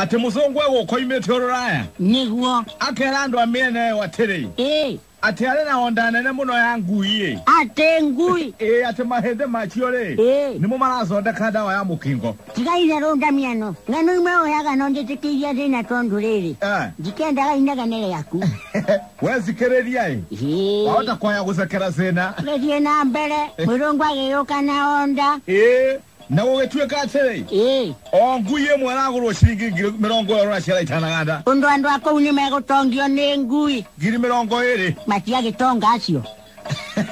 atĩ mũthũngũ egũkoimĩte ũrũraya nĩguo akera andũ a mĩena ĩyo atĩrĩ ĩ atĩ arĩ na onda nene mũno ya ngui-ĩ atĩ ngui ĩ atĩ mahĩndĩ macio-rĩ ĩ nĩmo marathondeka ndawa ya mũkingo tiga itherũ ndamiano na nĩ imwe ũyaga no njĩtĩkĩirie thĩna tondũ rĩrĩ Eh, ndikendaga inegene rĩaku wethikĩrĩria-ĩ Ĩ, wahota kwaya gũcekera thĩna gĩthiĩ na mbere mwĩrũngũ agĩyũka na onda ĩ na gũgĩtuĩka atĩrĩ ĩĩ o ngu iye ĩmwe ĩragũrwo ciringi ngiri mĩrongo ĩrĩ na ciara itanaganda ũndũ andũ a kũu nĩ megũtongio nĩ ngui ngiri mĩrongo ĩrĩ matiagĩtonga acio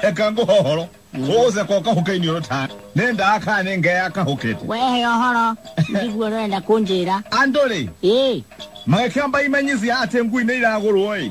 eka ngũhohoro ũgũceka ũkahũkeinĩ ũrũ ta nĩ ndaa kana nĩ ngea yakahũkĩte wehe ũhoro ndiguo ũrenda kũnjĩra andũ-rĩ ĩĩ magĩkĩamba imenyithia atĩ ngui nĩ iragũrwo-ĩ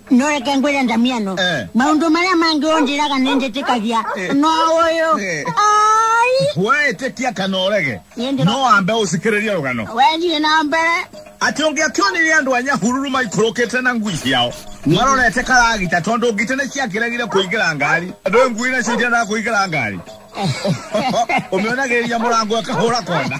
no reke ngwĩre ndamiano Eh. maũndũ marĩa mangĩ ũnjĩraga nĩ njĩtĩkagia no ũyũ Eh. ai we ĩtĩkia kana ũrege Niĩ ndĩro- no wambe ũsikĩrĩrie rũgano wethiĩ na mbere atĩ ũngĩakĩonire andũ a nyahururu maikũrũkĩte na ngui ciao marorete karagita tondũ ngite nĩ ciakĩregire kũingĩra ngari andũ ĩ ngui nacio irendaga kũingĩra ngari ũmĩonagĩrĩria mũrango ĩkahũra kona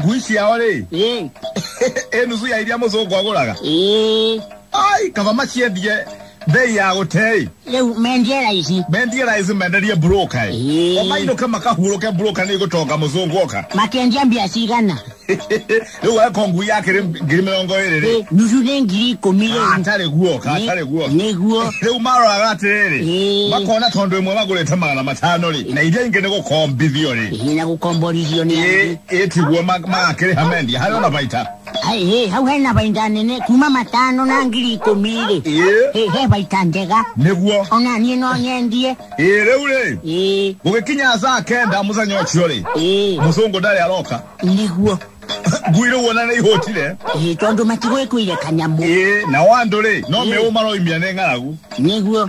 ngui ciao rĩ ĩ ĩ nuthu ya iria mũthũngũ agũraga ĩ ai kaba maciendie mbei ya gũtei rĩu mendie raici mendie raici menderie broka ĩ Ĩĩ. omainũke makahurũke broka nĩ gũtonga mũthũngũ oka makendia mbia cigana rĩu weko ngui yake rĩ ngiri mĩrongo ĩrĩ rĩ Ĩ, nuthu nĩ ngiri ikũmi rĩu atarĩ guoka atarĩ guoka nĩguo rĩu maroraga atĩrĩrĩ Ĩĩ. makona tondũ ĩmwe magũrĩte magana matano rĩ na iria ingĩ nĩ gũkombithio rĩ hihi na gũkomborithio nĩ Ĩĩ. angĩ ĩtiguo makĩrĩha mendia harĩa ũnabaita ĩ hau hena baita nene kuma matano na ngiri ikũmi rĩ Ĩ. Ĩ, he baita njega nĩguo ona niĩ no nyendie ĩ rĩu rĩ ĩ gũgĩkinya saa kenda mũthenya ũcio rĩ ĩ mũcũngũ ndarĩ aroka nĩguo ngui rĩu ona nĩ ihũtire ĩ tondũ matigwĩkũire kanyamũ ĩ nao andũ rĩ no Ĩ. mĩũ maroimia nĩ ng'aragu nĩguo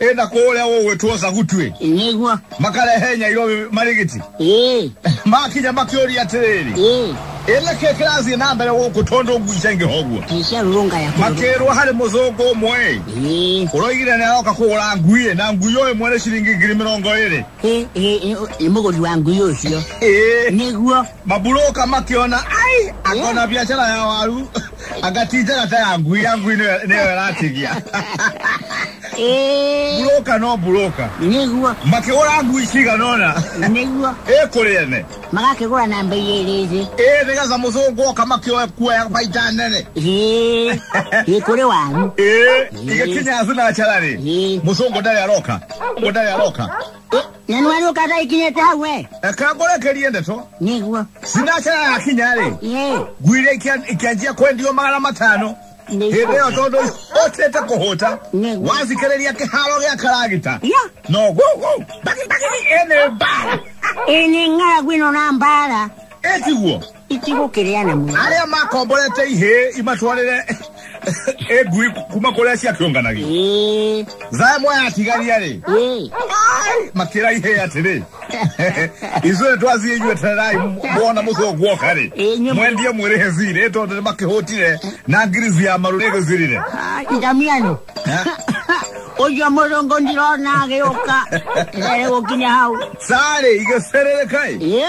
ĩ na kũrĩa gũgwĩtwo zagutwĩ nĩguo makarehe nyairo marigiti ĩĩ makinya makĩũria atĩrĩrĩ ĩĩ ĩ nĩ kĩ kĩrathiĩ na mbere gũkũ tondũ ngui ciaingĩha ũguo ticia rũrũnga ya kũrũrũnga. makĩrwo harĩ mũthũngũ ũmwe Ĩĩ, ũroigire nĩ aroka kũgũra ngui na ngui ũyũ ĩmwe nĩ ciringi ngiri mĩrongo ĩrĩ ĩĩ, ĩĩ, ĩĩ, nĩ mũgũri wa ngui ũcio ĩĩ nĩguo maburũka makĩona ai akona biacara ya waru anga ti njara ta ya ngui ya ngui nĩyo nĩyo ĩratigia ĩĩ buroka no buroka nĩguo makĩgũra ngui cigana ũna nĩguo ĩ kũrĩ ene magakĩgũra na mbei ĩrĩ thĩ ĩ nĩgetha mũthũngũ oka makĩoe kuoya baita nene ĩĩ ĩĩ kũrĩ wanyu ĩ igĩkinya thinacara rĩ Ĩĩ. mũthũngũ ndarĩ aroka mũthũngũ ndarĩ aroka na nĩwe nũkata ikinyĩte hau we reka ngũrekerie ndeto nĩguo sinacera yakinya rĩ Ĩĩ. ngui iria ikia- ikĩanjia kwendio magana matano Nĩ- hĩndĩ ĩyo tondũ hotete kũhũta Nĩguo. wazikĩrĩria kĩharo gĩa karagita Ya. no gũgũ ndagĩtarĩ ene mbara ĩnĩ ng'aragu ĩno na mbara ĩtiguo itigũkĩrĩana mũno arĩa makomborete ihĩ imatwarĩre ĩ ngui kuma kũrĩa ciakĩũnganagia Ĩĩ, thaya moya atigaria-rĩ ĩĩ. makĩra ihĩ atĩrĩ ithuĩ twathiĩ inyuĩ tererai mwona mũcũ guoka-rĩ Ĩĩ, inyuĩ- mwendie mwĩrĩhe thirĩ tondũ nĩ makĩhũtire na ngirici ya maru nĩgĩthirire Ah, itamiano ũcio mũrũngũ ndirona agĩũka ere gũkinya hau sarĩ igĩcerereka-ĩ Ĩĩ,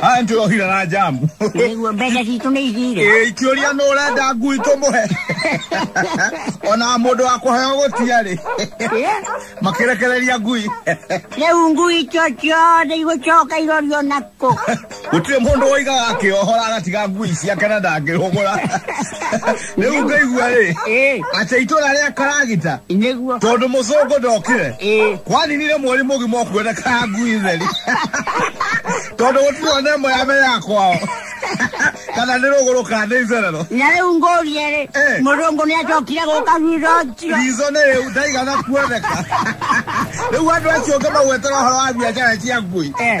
Haya ndio hila na jamu. Nĩguo mbeca citũ nĩ ithire. Ĩ ikiũria nũ ũrenda ngui tũmũhe. Ona mũndũ wa kũheo gũtiarĩ. Eh, Makĩrekereria ngui. Rĩu ngui icio ciothe igũcoka irorio nakũ. Gũtirĩ mũndũ woigaga akĩohora agatiga ngui ciake na ndangĩhũgũra. rĩu ngaigua rĩ ĩ atĩ itũra rĩa karagita nĩguo tondũ mũcũngũ ndokire ĩ kwaninire mweri mũgima ũkuoneka ngui theri tondũ gũtirĩ ona ĩmwe ya mbere ya kwao kana nĩ rũgũrũ kana nĩ icerero na rĩu ngũrie rĩ Eh. mũrũngũ nĩ acokire gũka thutha ũcio rizo nĩ rĩu ndaigana kuoneka rĩu andũ acio ũngĩ magwetera ũhoro wa biacara cia ngui Eh.